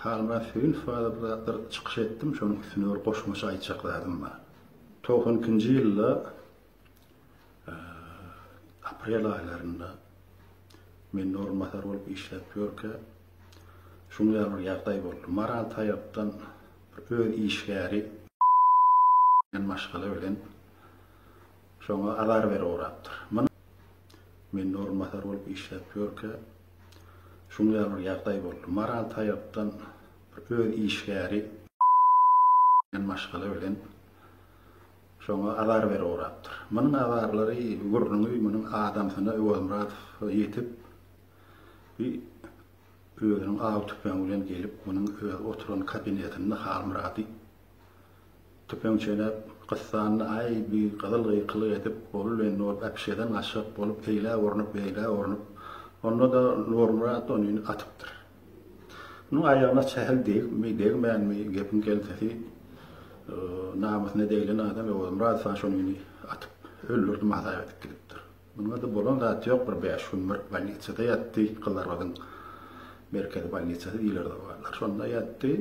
Halyma Söýünç barada bir çykyş etdim, şonuň üstüne bir goşmaça aýtjak zadym bar. Togsan ikinji ýylda aprel aýlarynda men orunbasar bolup işläp ýörkä, şunuň ýaly bir ýagdaý boldy. Maral Taýapdan bir öz işgäri diýen maşgala bilen şoňa azar berip ugrapdyr. Men orunbasar bolup işläp ýörkä, Şuňa ýaly bir ýagdaý boldy. Maral taýakdan bir öz işgäri diýen maşgala bilen şoňa azar berip ugrapdyr. Munuň azarlary, gürrüňi munuň adamsyna Öwezmyradow ýetip, bi özüniň aw tüpeňi bilen gelip, munuň öz oturan kabinetinde Halmyrady Tüpeňçeläp, gyssandy, Aý, bi gyzyl gykylyk edip, boluly indi bolup, äpişgeden gaçjak bolup, eýlä urnup, beýlä urnup, onda-da Nurmyrat ony atypdyr. Munuň aýagyna sähel degipmi, degmänmi, gepiň gelsesi, namysyna deglen adam Öwezmyradow ha şony atyp, öldürdim hasap edip gidipdir. Munuňa-da bolan zat ýok, bir bäş gün bir bolnisada ýatdy, Gyzlarbadyň merkezi bolnisasy diýlerdi o wagtlar, şonda ýatdy.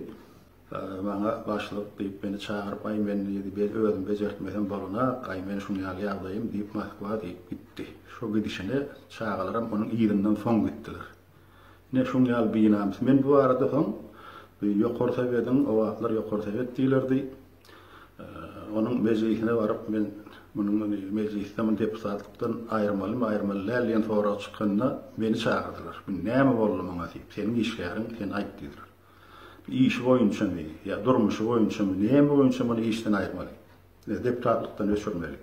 Maňa başlyk, diýip, meni çagyryp, Aý, men, diýdi, biz özüm bejertmesem bolanak, aý, men şuny ýaly ýagdaýym, diýip, Moskwa, diýip, gitdi. Şo gidişine çagalaram onuň yzyndan soň gitdiler. Ine, şuň ýaly binamys. Men bu barada soň Ýokary Sowediň, o wagtlar Ýokary Sowet diýilerdi, onuň mejlisine baryp, men munuň mejlisde muny deputatlykdan aýyrmalymy, aýyrmaly däl diýen sorag çykanda, meni çagyrdylar. Bu näme boldy maňa diýip, seniň işgäriň, sen aýt diýdiler. Işi boýunçamy ýa durmuşy boýunçamy, näme boýunça muny işden aýyrmaly we deputatlykdan öçürmeli?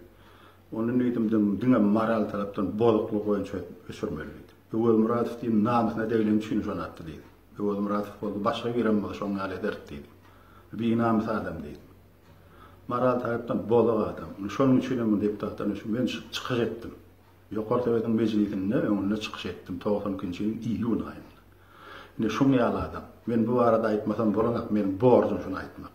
Onda diýdim, diňe moral tarapdan bozuklygy boýunça öçürmeli diýdim. Öwezmyradow diýdim, namysyna degileni üçin şony atdy diýdim. Öwezmyradow boldy, başga birem bolsa şoň ýaly ederdi diýdim. Binamys adam diýdim. Moral tarapdan bozuk adam. Şonuň üçinem deputatdan öçürip, men çykyş etdim. Ýokary Sowetiň mejlisinde öňünde çykyş etdim, togsan ikinji ýylyň iýun aýynda. Ine, şuň ýaly adam. Men bu barada aýtmasam bolanok, meniň borjum şuny aýtmak.